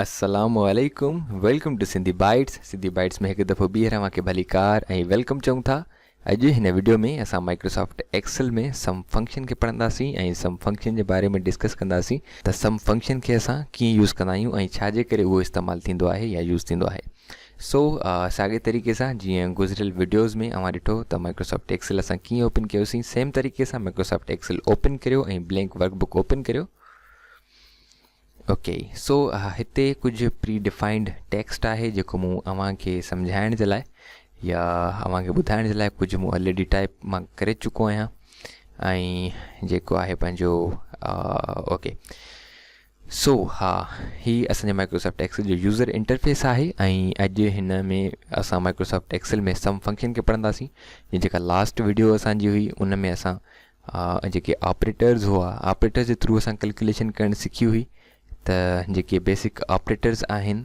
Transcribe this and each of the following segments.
السلام عليڪم welcome to Sindhi bytes Sindhi bites ۾ هڪ دفعو ٻيهر اوهان کي ڀلي ڪار ۽ ويلڪم چئون ٿا اڄ هن ويڊيو ۾ اسان مائڪروسافٽ ايڪسل ۾ سم فنڪشن کي پڙهنداسين ۽ سم فنڪشن جي باري ۾ ڊسڪس ڪنداسين ته سم فنڪشن کي اسان ڪيئن يوز ڪندا آهيون ۽ ڇا جي ڪري اهو استعمال ٿيندو آهي يا يوز ٿيندو آهي سو ساڳئي طريقي سان جيئن گذريل وڊيوز ۾ اوهان ڏٺو ته مائڪروسافٽ ايڪسل اسان ڪيئن اوپن ڪيوسين سيم طريقي سان مائڪروسافٽ ايڪسل اوپن ڪريو ۽ بلينڪ ورڪ بڪ اوپن ڪريو اوڪي سو هتي ڪجهه پري ڊيفائنڊ ٽيڪسٽ آهي جيڪو مون اوهان کي سمجهائڻ جي لاء يا اوهان کي ٻڌائڻ جي لاء ڪجهه مون آلريڊي ٽائپ مان ڪري چڪو آهيان ۽ جيڪو آهي پنهنجو اوڪي سو ها هي اسان جي مائڪروسافٽ ايڪسل جو يوزر انٽرفيس آهي ۽ اڄ هن ۾ اسان مائڪروسافٽ ايڪسل ۾ سم فنڪشن کي پڙهنداسين ۽ جيڪا لاسٽ وڊيو اسان جي هئي ان ۾ اسان جيڪي آپريٽرز هئا آپريٽرز جي ٿرو اسان ڪلڪيليشن ڪرڻ سکي هئي ته جيڪي بيسڪ آپريٽرز آهن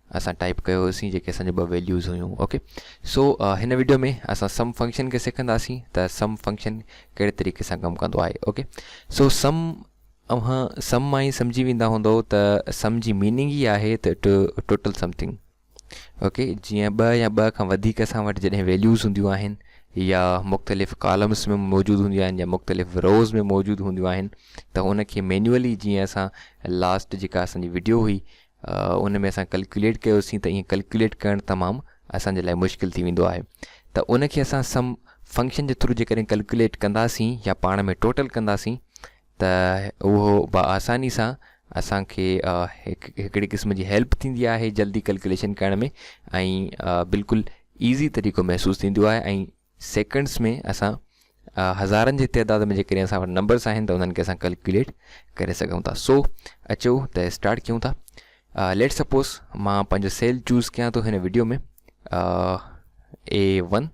اسان ٽائپ ڪيو هوسين جيڪي اسان جو ٻه ويليوز هيون اوڪي سو هن ويڊيو ۾ اسان سم فنڪشن کي سکنداسين ته سم فنڪشن ڪهڙي طريقي سان ڪم ڪندو آهي اوڪي سو سم اوهان سم مان ئي سمجهي ويندا هوندو ته سم جي ميننگ ئي آهي ته اٽ ٽوٽل سمٿنگ اوڪي جيئن ٻه يا ٻه کان وڌيڪ اسان وٽ جڏهن ويليوز هونديون آهن يا مختلف ڪالمس ۾ موجود هونديون آهن يا مختلف روز ۾ موجود هونديون آهن ته ان کي مينوئلي جيئن اسان لاسٽ جيڪا اسانجي ويڊيو هئي ان ۾ اسان ڪلڪيوليٽ ڪيوسين ته ايئن ڪلڪيوليٽ ڪرڻ تمام اسان جي لاء مشڪل ٿي ويندو آهي ته ان کي اسان سم فنڪشن جي ٿرو جيڪڏهن ڪلڪيوليٽ ڪنداسين يا پاڻ ۾ ٽوٽل ڪنداسين ته اهو با آساني سان اسان کي هڪ هڪڙي قسم جي هيلپ ٿيندي آهي جلدي ڪلڪيوليشن ڪرڻ ۾ ۽ بلڪل ايزي طريقو محسوس ٿيندو آهي ۽ سيڪنڊس ۾ اسان هزارن جي تعداد ۾ جيڪڏهن اسان وٽ نمبرس آهن ته انهن کي اسان ڪلڪيوليٽ ڪري سگهون ٿا سو اچو ته اسٽارٽ ڪيون ٿا ليٽ سپوز مان پنهنجو سيل چوز ڪيان ٿو هن ويڊيو ۾ اي ون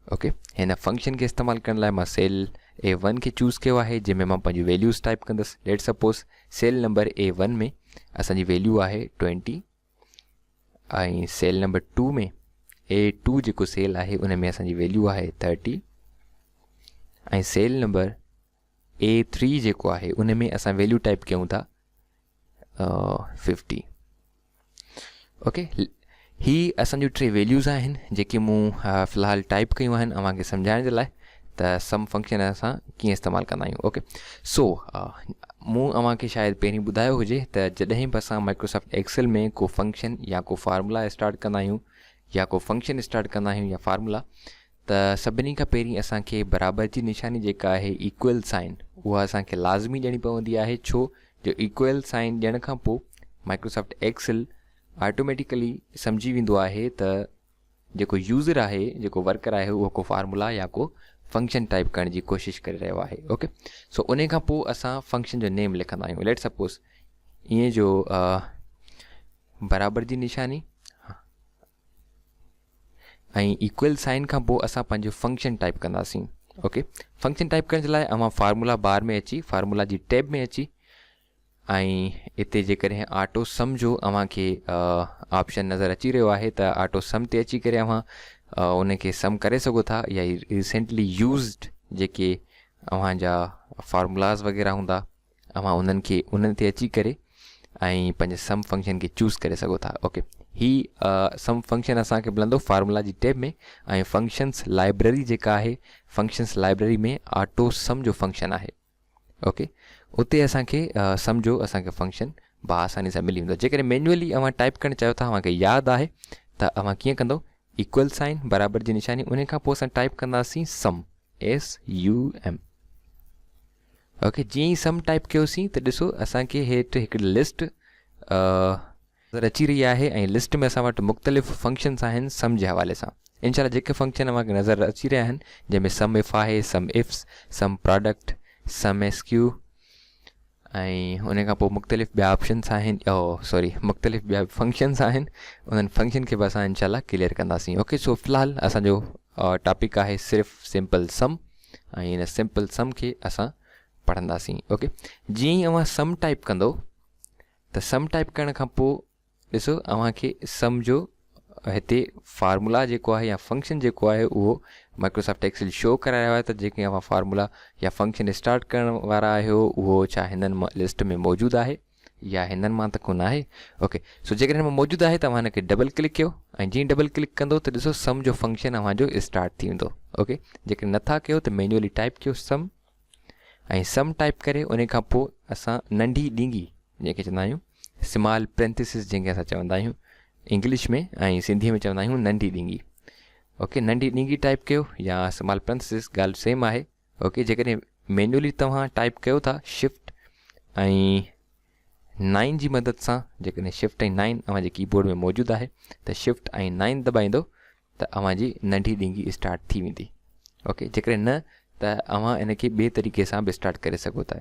اوڪي هن فنڪشن کي استعمال ڪرڻ لاء مان سيل اي ون کي چوز ڪيو آهي جنهن ۾ مان پنهنجي ويليوز ٽائپ ڪندس let suppose cell number A one ۾ اسانجي ويليو آهي twenty ۽ cell number two ۾ A two جيڪو سيل آهي ان ۾ اسان جي ويليو آهي thirty ۽ cell number A three جيڪو آهي ان ۾ اسان ويليو ٽائپ ڪيون ٿا ففٽي اوڪي هي اسان جون ٽي ويليوز آهن جيڪي مون في الحال ٽائپ ڪيون آهن اوهان کي سمجھائڻ جي لاء ته سم فنڪشن اسان ڪيئن استعمال ڪندا آهيون اوڪي سو مون اوهان کي شايد پهرين ٻڌايو هجي ته جڏهن به اسان مائڪروسافٽ ايڪسل ۾ ڪو فنڪشن يا ڪو فارمولا اسٽارٽ ڪندا آهيون يا ڪو فنڪشن اسٽارٽ ڪندا آهيون يا فارمولا ته سڀني کان پهرين اسان کي برابر جي نشاني جيڪا آهي ايڪوئل سائن اها اسان کي لازمي ڏيڻي پوندي آهي ڇو جو ايڪوئل سائن ڏيڻ کان پوء مائڪروسافٽ ايڪسل آٽوميٽيڪلي سمجهي ويندو آهي ته جيڪو يوزر آهي جيڪو ورڪر آهي اهو ڪو فارمولا يا ڪو فنڪشن ٽائيپ ڪرڻ جي ڪوشش ڪري رهيو آهي اوڪي سو انهي کان پوء اسان فنڪشن جو نيم لکندا آهيون ليٽ سپوز ائين جو برابر جي نشاني ۽ ايڪول سائن کان پوء اسان پنهنجو فنڪشن ٽائپ ڪنداسين اوڪي فنڪشن ٽائپ ڪرڻ جي لاء اوهان فارمولا بار ۾ اچي فارمولا جي ٽيب ۾ اچي ۽ اتي جيڪڏهن آٽو سم جو اوهان کي آپشن نظر اچي رهيو آهي ته آٽو سم تي اچي ڪري اوهان ان کي سم ڪري سگهو ٿا يا ريسنٽلي يوزڊ جيڪي اوهان جا فارمولاز وغيره هوندا اوهان انهن کي انهن تي اچي ڪري ۽ پنهنجي سم فنڪشن کي چوز ڪري سگهو ٿا اوڪي هي سم فنڪشن اسانکي ملندو فارمولا جي ٽيب ۾ ۽ فنڪشنس لائبرري جيڪا آهي فنڪشنس لائبرري ۾ آٽو سم جو فنڪشن آهي اوڪي اتي اسان کي سمجهو اسان کي فنڪشن بآساني سان ملي ويندو جيڪڏهن مينوئلي اوهان ٽائپ ڪرڻ چاهيو ٿا اوهان کي ياد آهي ته اوهان ڪيئن ڪندو ايڪول سائن برابر جي نشاني ان کان پوء اسان ٽائپ ڪنداسين sum S U M okay جيئن ئي سم ٽائپ ڪيوسين ته ڏسو اسان کي هيٺ هڪڙي لسٽ نظر اچي رهي آهي ۽ لسٽ ۾ اسان وٽ مختلف فنڪشنس آهن سم جي حوالي سان ان شاء الله جيڪي فنڪشن اوهان کي نظر اچي رهيا آهن جنهن ۾ سم اف آهي sum ifs sum product sum S Q ۽ ان کان پوء مختلف ٻيا آپشنس آهن او سوري مختلف ٻيا فنڪشنس آهن انهن فنڪشن کي به اسان ان شاء الله ڪليئر ڪنداسين اوڪي سو في الحال اسان جو ٽاپڪ آهي صرف سمپل سم ۽ ان سمپل سم کي اسان پڙهنداسين اوڪي جيئن ئي اوهان سم ٽائپ ڪندو ته سم ٽائپ ڪرڻ کان پوء ڏسو اوهان کي سم جو هتي فارمولا جيڪو آهي يا فنڪشن جيڪو آهي اهو مائڪروسافٽ ايڪسل شو ڪرائي رهيو آهي ته جيڪي اوهان فارمولا يا فنڪشن اسٽارٽ ڪرڻ وارا آهيو اهو ڇا هنن مان لسٽ ۾ موجود آهي يا هنن مان ته ڪونه آهي اوڪي سو جيڪڏهن مان موجود آهي ته اوهان هن کي ڊبل ڪلڪ ڪيو ۽ جئين ڊبل ڪلڪ ڪندو ته ڏسو سم جو فنڪشن اوهان جو اسٽارٽ ٿي ويندو اوڪي جيڪڏهن نٿا ڪيو ته مينوئلي ٽائپ ڪيو سم ۽ سم ٽائيپ ڪري انهي کان پوء اسان ننڍي ڏينگي جنهن کي چوندا آهيون سمال پرينٿيسز جنهن کي اسان چوندا آهيون انگلش ۾ ۽ سنڌي ۾ چوندا آهيون ننڍي ڏينگي اوڪي ننڍي ڏينگي ٽائيپ ڪيو يا سمال پرينٿيسز ڳالهه سيم آهي اوڪي جيڪڏهن مينولي توهان ٽائيپ ڪيو ٿا شفٽ ۽ نائن جي مدد سان جيڪڏهن شفٽ ۽ نائن اوهان جي ڪيبورڊ ۾ موجود آهي ته شفٽ ۽ نائن دٻائيندو ته اوهان جي ننڍي ڏينگي اسٽارٽ ٿي ويندي اوڪي جيڪڏهن نه ته اوهان ان کي ٻي طريقي سان به اسٽارٽ ڪري سگهو ٿا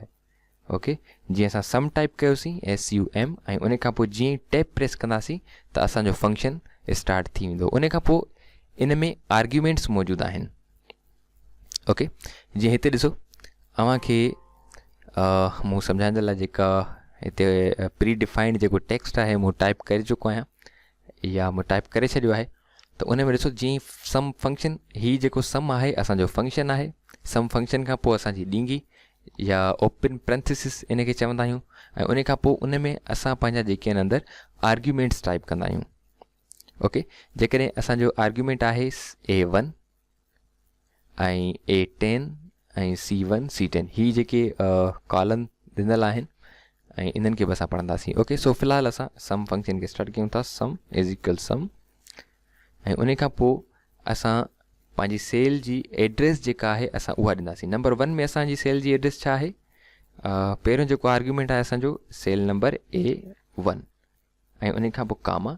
اوڪي جيئن اسان سم ٽائپ ڪيوسين ايس يو ايم ۽ ان کان پوء جيئن ٽيپ پريس ڪنداسين ته اسان جو فنڪشن اسٽارٽ ٿي ويندو ان کان پوء ان ۾ آرگيومينٽس موجود آهن اوڪي جيئن هتي ڏسو اوهان کي مون سمجھائيندڙ لاء جيڪا هتي پري ڊيفائنڊ جيڪو ٽيڪسٽ آهي مون ٽائپ ڪري چڪو آهيان يا مون ٽائپ ڪري ڇڏيو آهي ته ان ۾ ڏسو جي سم فنڪشن هي جيڪو سم آهي اسان جو فنڪشن آهي سم فنڪشن کان پوء اسان جي ڏينگي يا اوپن پرنٿيسس ان کي چوندا آهيون ۽ ان کان پوء ان ۾ اسان پنهنجا جيڪي آهن اندر آرگيومينٽس ٽائپ ڪندا آهيون اوڪي جيڪڏهن اسان جو آرگيومينٽ آهي A one ۽ A ten ۽ C one C ten هي جيڪي ڪالم ڏنل آهن ۽ انهن کي به اسان پڙهنداسين اوڪي سو في الحال اسان سم فنڪشن کي اسٽارٽ ڪيون ٿا سم از ايڪل سم ۽ ان کان پوء اسان پنهنجي سيل جي ايڊريس جيڪا آهي اسان اها ڏينداسين نمبر ون ۾ اسانجي سيل جي ايڊريس ڇا آهي پهريون جيڪو آرگيومينٽ آهي اسانجو سيل نمبر اي ون ۽ ان کان پوء ڪاما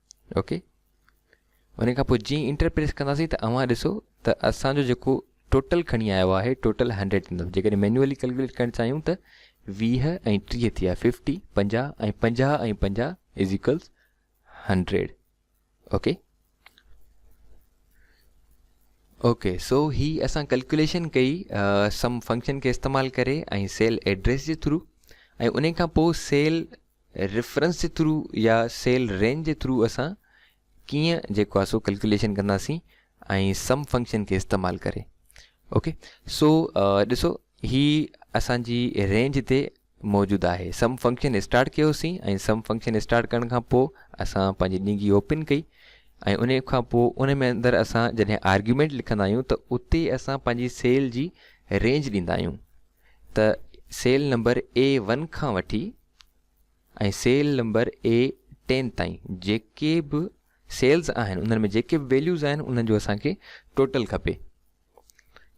اوڪي ان کان پوء جيئن انٽر پريس ڪنداسين ته اوهان ڏسو ته اسان جو جيڪو ٽوٽل کڻي آيو آهي ٽوٽل هنڊريڊ ايندو جيڪڏهن مينوئلي ڪلڪوليٽ ڪرڻ چاهيون ته ويهه ۽ ٽيهه ٿي ويا ففٽي پنجاهه ۽ پنجاهه ۽ پنجاهه is equals hundred okay okay so هي اسان ڪلڪوليشن ڪئي سم فنڪشن کي استعمال ڪري ۽ سيل ايڊريس جي ٿرو ۽ ان کان پوء سيل ريفرنس جي ٿرو يا سيل رينج جي ٿرو اسان ڪيئن جيڪو آهي سو ڪلڪيوليشن ڪنداسين ۽ سم فنڪشن کي استعمال ڪري اوڪي سو ڏسو هي اسان جي رينج تي موجود آهي سم فنڪشن اسٽارٽ ڪيوسين ۽ سم فنڪشن اسٽارٽ ڪرڻ کان پوء اسان پنهنجي ڏينگي اوپن ڪئي ۽ ان کان پوء ان ۾ اندر اسان جڏهن آرگيومينٽ لکندا آهيون ته اتي اسان پنهنجي سيل جي رينج ڏيندا آهيون ته سيل نمبر اي ون کان وٺي ۽ سيل نمبر اي ٽين تائين جيڪي به سيلز آهن انهن ۾ جيڪي به ويليوز آهن انهن جو اسان کي ٽوٽل کپي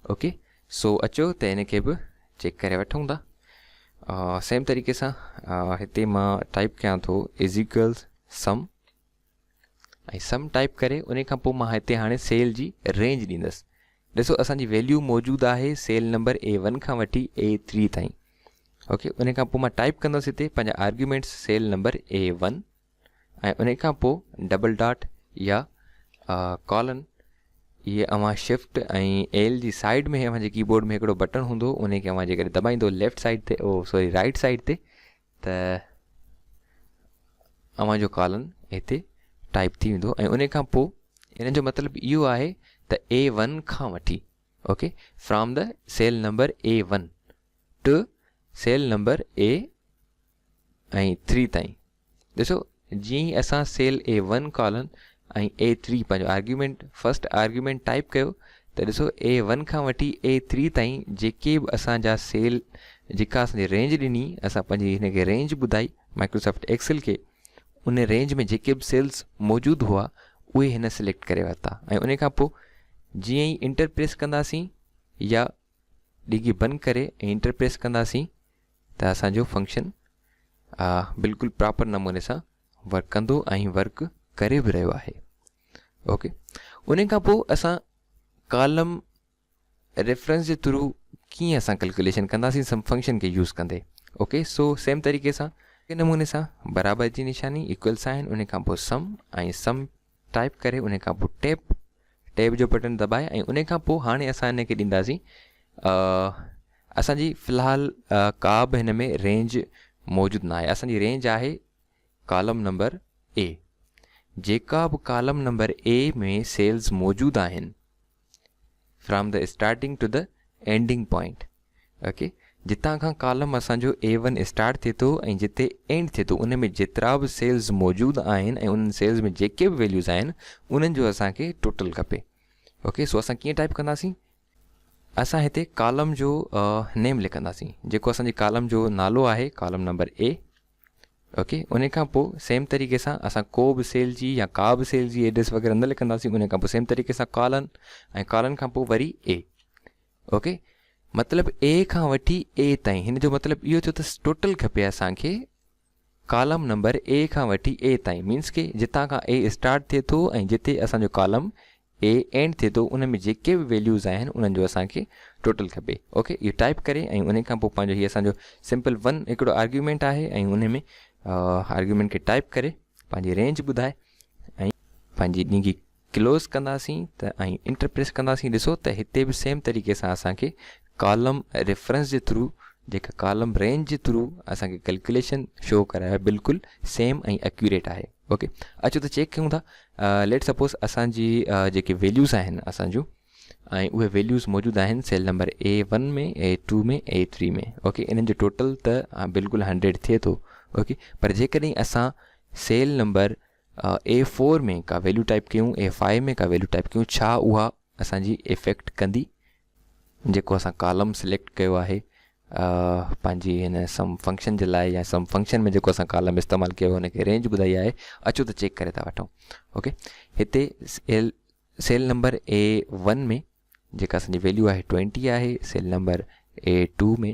اوڪي سو اچو ته ان کي به چيڪ ڪري وٺون ٿا سيم طريقي سان هتي مان ٽائپ ڪيان ٿو از ايڪولز سم ۽ سم ٽائپ ڪري انهي کان پوء مان هتي هاڻي سيل جي رينج ڏيندس ڏسو اسان جي ويليو موجود آهي سيل نمبر اي ون کان وٺي اي ٿري تائين اوڪي انهي کان پوء مان ٽائپ ڪندس هتي پنهنجا arguments cell number A one ۽ انهي کان پوء ڊبل ڊاٽ يا ڪالن یہ اوهان شفٽ ايل جي سائيڊ ۾ اوهان جي ڪيبورڊ ۾ هڪڙو بٽڻ هوندو انهي کي اوهان جيڪڏهن دٻائيندو ليفٽ سائيڊ تي او سوري رائٽ سائيڊ تي ته اوهان جو ڪالن هتي ٽائپ ٿي ويندو ۽ ان کان پوء ان جو مطلب اهو آهي ته اي ون کان وٺي okay from the cell number A one to cell number A ۽ three تائين ڏسو جيئن ئي اسان cell A one colon ۽ A three پنهنجو آرگيومينٽ فرسٽ آرگيومينٽ ٽائيپ ڪيو ته ڏسو اي ون کان وٺي اي ٿري تائين جيڪي به اسان جا سيل جيڪا اسان جي رينج ڏني اسان پنهنجي هن کي رينج ٻڌائي مائڪروسافٽ ايڪسل کي ان رينج ۾ جيڪي به سيلز موجود هئا اهي هن سليڪٽ ڪري ورتا ۽ ان کان پوء جيئن ئي انٽر پريس ڪنداسين يا ڊگهي بند ڪري ۽ انٽر پريس ڪنداسين ته اسان جو فنڪشن بلڪل پراپر نموني سان ورڪ ڪندو ۽ ورڪ ڪري به رهيو آهي اوڪي ان کان پوء اسان ڪالم ریفرنس جي ٿرو ڪيئن اسان ڪلڪوليشن ڪنداسين سم فنڪشن کي يوز ڪندي اوڪي سو سيم طريقي سان نموني سان برابر جي نشاني ايڪول سائن ان کان پوء سم ۽ سم ٽائيپ ڪري انهي کان پوء ٽيپ ٽيب جو بٽڻ دٻائي ۽ انهي کان پوء هاڻي اسان انهي کي ڏينداسين اسان جي في الحال ڪا به هن ۾ رينج موجود ناهي اسان جي رينج آهي ڪالم نمبر اي جيڪا به ڪالم نمبر اي ۾ سيلز موجود آهن from the starting to the ending point okay جتان کان ڪالم اسان جو اي ون اسٽارٽ ٿئي ٿو ۽ جتي اينڊ ٿئي ٿو ان ۾ جيترا به سيلز موجود آهن ۽ انهن سيلز ۾ جيڪي به ويليوز آهن انهن جو اسان کي ٽوٽل کپي اوڪي سو اسان ڪيئن ٽائپ ڪنداسين اسان هتي ڪالم جو نيم لکنداسين جيڪو اسانجي ڪالم جو نالو آهي ڪالم نمبر اي اوڪي انهي کان پوء سيم طريقي سان اسان ڪو به سيل جي يا ڪا به سيل جي ايڊريس وغيره نه لکنداسين انهي کان پوء سيم طريقي سان ڪالن ۽ ڪالن کان پوء وري اي اوڪي مطلب اي کان وٺي اي تائين هن جو مطلب اهو ٿيو ته ٽوٽل کپي اسان کي ڪالم نمبر اي کان وٺي اي تائين مينس کي جتان کان اي اسٽارٽ ٿئي ٿو ۽ جتي اسان جو ڪالم اي اينڊ ٿئي ٿو ان ۾ جيڪي به ويليوز آهن انهن جو اسان کي ٽوٽل کپي اوڪي اهو ٽائپ ڪري ۽ ان کان پوء پنهنجو هي اسان جو سمپل ون هڪڙو آرگيومينٽ آهي ۽ ان ۾ آرگيومينٽ کي ٽائپ ڪري پنهنجي رينج ٻڌائي ۽ پنهنجي ڏينگي ڪلوز ڪنداسين ته ۽ انٽر پريس ڪنداسين ڏسو ته هتي به سيم طريقي سان اسان کي ڪالم ريفرنس جي ٿرو جيڪا ڪالم رينج جي ٿرو اسان کي ڪلڪوليشن شو ڪرائي بلڪل سيم ۽ اڪيوريٽ آهي اوڪي اچو ته چيڪ ڪيون ٿا ليٽ سپوز اسان جي جيڪي ويليوز آهن اسان جون ۽ اهي ويليوز موجود آهن cell number A one ۾ A two ۾ A three ۾ okay انهن جو ٽوٽل ته بلڪل هنڊريڊ ٿئي ٿو اوڪي پر جيڪڏهن اسان سيل نمبر اي فور ۾ ڪا ويليو ٽائپ ڪيون اي فائيو ۾ ڪا ويليو ٽائپ ڪيون ڇا اها اسان جي افيڪٽ ڪندي جيڪو اسان ڪالم سليڪٽ ڪيو آهي پنهنجي هن سم فنڪشن جي لاء يا سم فنڪشن ۾ جيڪو اسان ڪالم استعمال ڪيو ان کي رينج ٻڌائي آهي اچو ته چيڪ ڪري ٿا وٺون اوڪي هتي cell cell number A one ۾ جيڪا اسانجي ويليو آهي ٽوينٽي آهي cell number A two ۾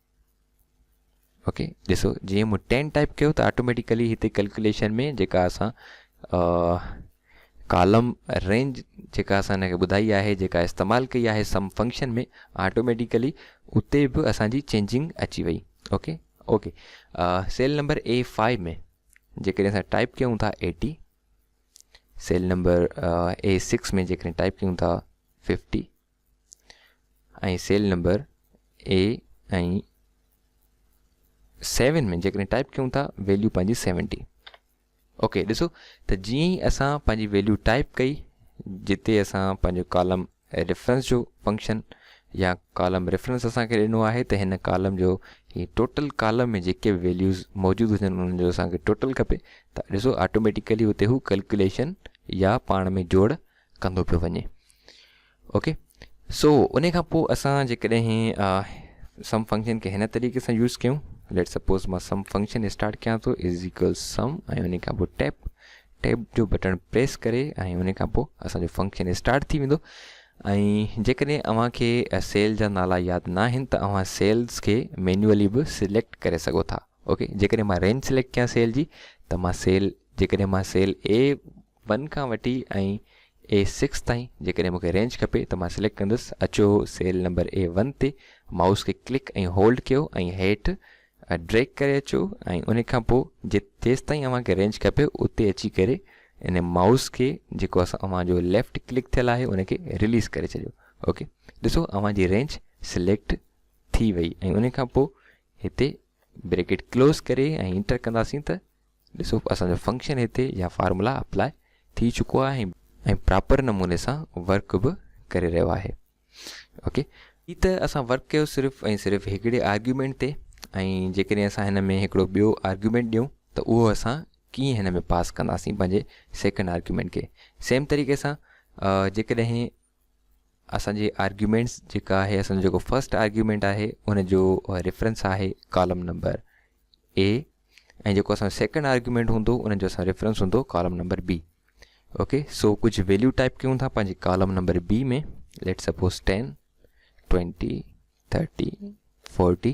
okay ڏسو جيئن مون ٽين ٽائپ ڪيو ته آٽوميٽيڪلي هتي ڪلڪوليشن ۾ جيڪا اسان ڪالم رينج جيڪا اسان هن کي ٻڌائي آهي جيڪا استعمال ڪئي آهي سم فنڪشن ۾ آٽوميٽيڪلي اتي به اسانجي چينجنگ اچي وئي okay okay cell number A five ۾ جيڪڏهن اسان ٽائپ ڪيون ٿا eighty cell number A six ۾ جيڪڏهن ٽائپ ڪيون ٿا fifty ۽ cell number A ۽ seven ۾ جيڪڏهن ٽائپ ڪيون ٿا ويليو پنهنجي سيونٽي اوڪي ڏسو ته جيئن ئي اسان پنهنجي ويليو ٽائپ ڪئي جتي اسان پنهنجو ڪالم ريفرنس جو فنڪشن يا ڪالم ريفرنس اسانکي ڏنو آهي ته هن ڪالم جو هي ٽوٽل ڪالم ۾ جيڪي به ويليوز موجود هجن انهن جو اسانکي ٽوٽل کپي ته ڏسو آٽوميٽيڪلي اتي هو ڪلڪوليشن يا پاڻ ۾ جوڙ ڪندو پيو وڃي اوڪي سو ان کان پوء اسان جيڪڏهن سم فنڪشن کي هن طريقي سان يوز ڪيون ليٽ سپوز مان سم فنڪشن اسٽارٽ کيان تو از ايڪول سم ۽ ان کان پوء ٽيپ ٽيپ جو بٽن پريس ڪري ۽ ان کان پوء اسان جو فنڪشن اسٽارٽ ٿي ويندو ۽ جيڪڏهن اوهان کي سيل جا نالا ياد نه آهن ته اوهان سيلز کي مينوئلي به سليڪٽ ڪري سگهو ٿا اوڪي جيڪڏهن مان رينج سليڪٽ ڪيان سيل جي ته مان سيل جيڪڏهن مان سيل اي ون کان وٺي ۽ اي سڪس تائين جيڪڏهن مون کي رينج کپي ته مان سليڪٽ ڪندس اچو سيل نمبر اي ون تي مائوس کي ڪلڪ ۽ هولڊ ڪيو ۽ هيٺ ڊريگ ڪري اچو ۽ ان کان پوء جيستائين اوهان کي رينج کپي اتي اچي ڪري ان مائوس کي جيڪو اسان اوهان جو ليفٽ ڪلڪ ٿيل آهي ان کي رليز ڪري ڇڏيو اوڪي ڏسو اوهان جي رينج سليڪٽ ٿي وئي ۽ ان کان پوء هتي بريڪيٽ ڪلوز ڪري ۽ انٽر ڪنداسين ته ڏسو اسان جو فنڪشن هتي يا فارمولا اپلاء ٿي چڪو آهي ۽ پراپر نموني سان ورڪ به ڪري رهيو آهي اوڪي هي ته اسان ورڪ ڪيو صرف ۽ صرف هڪڙي آرگيومينٽ تي ۽ جيڪڏهن اسان هن ۾ هڪڙو ٻيو آرگيومينٽ ڏيون ته اهو اسان ڪيئن هن ۾ پاس ڪنداسين پنهنجي سيڪنڊ آرگيومينٽ کي سيم طريقي سان جيڪڏهن اسان جي آرگيومينٽس جيڪا آهي اسان جو جيڪو فرسٽ آرگيومينٽ آهي ان جو ريفرنس آهي ڪالم نمبر اي ۽ جيڪو اسان سيڪنڊ آرگيومينٽ هوندو ان جو اسان ريفرنس هوندو column number B okay so ڪجهه ويليو ٽائپ ڪيون ٿا پنهنجي column number B ۾ let suppose ten twenty thirty forty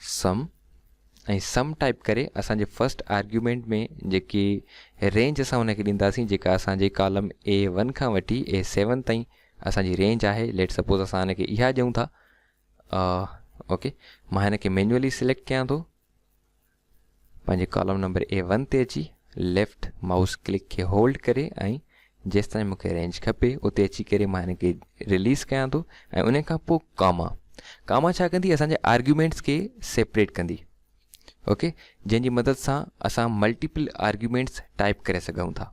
sum ۽ sum type ڪري اسان جي فرسٽ آرگيومينٽ ۾ جيڪي رينج اسان ان کي ڏينداسين جيڪا اسان جي ڪالم اي ون کان وٺي اي سيون تائين اسان جي رينج آهي ليٽ سپوز اسان ان کي اها ڏيون ٿا اوڪي مان هن کي مينوئلي سليڪٽ ڪيان ٿو پنهنجي ڪالم نمبر اي ون تي اچي ليفٽ مائوس ڪلڪ کي هولڊ ڪري ۽ جيستائين مون کي رينج کپي اتي اچي ڪري مان هن کي رليز ڪيان ٿو ۽ ان کان پوء ڪاما ڪاما ڇا ڪندي اسان جي آرگيومينٽس کي سيپريٽ ڪندي اوڪي جنهن جي مدد سان اسان ملٽيپل آرگيومينٽس ٽائپ ڪري سگهون ٿا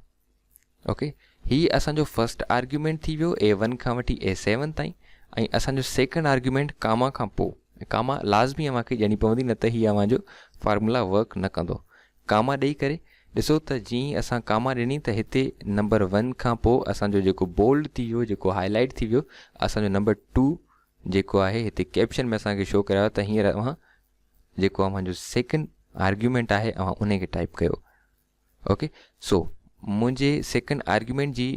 اوڪي هي اسان جو فرسٽ آرگيومينٽ ٿي ويو اي ون کان وٺي اي سيون تائين ۽ اسان جو سيڪنڊ آرگيومينٽ ڪاما کان پوء ڪاما لازمي اوهان کي ڏيڻي پوندي نه ته هي اوهان جو فارمولا ورڪ نه ڪندو ڪاما ڏيئي ڪري ڏسو ته جي اسان ڪاما ڏني ته هتي نمبر ون کان پوء اسان جو جيڪو بولڊ ٿي ويو جيڪو هاء لائيٽ ٿي ويو اسان جو نمبر ٽو جيڪو آهي هتي ڪيپشن ۾ اسان کي شو ڪرايو ته هينئر اوهان جيڪو اوهان جو سيڪنڊ آرگيومينٽ آهي اوهان ان کي ٽائپ ڪيو اوڪي سو منهنجي سيڪنڊ آرگيومينٽ جي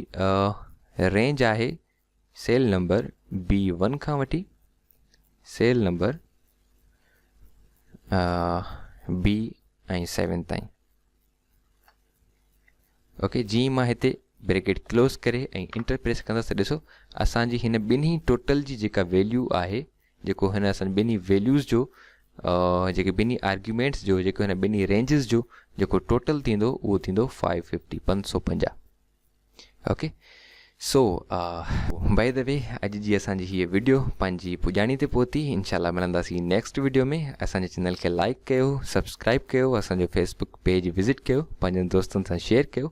رينج آهي سيل نمبر بي ون کان وٺي سيل نمبر بي ۽ سيون تائين اوڪي جي مان هتي بريڪيٽ ڪلوز ڪري ۽ انٽر پريس ڪندس ته ڏسو اسانجي هن ٻنهي ٽوٽل جي جيڪا ويليو آهي جيڪو هن اسان ٻنهي ويليوز جو جيڪي ٻنهي آرگيومينٽس جو جيڪو هن ٻنهي رينجز جو جيڪو ٽوٽل ٿيندو اهو ٿيندو فائيو ففٽي پنج سو پنجاهه okay so by the way اڄ جي اسانجي هيء ويڊيو پنهنجي پڄاڻي تي پهتي انشاء الله ملنداسين نيڪسٽ ويڊيو ۾ اسانجي چينل کي لائڪ ڪيو سبسڪرائب ڪيو اسانجو فيسبوڪ پيج وزٽ ڪيو پنهنجن دوستن سان شيئر ڪيو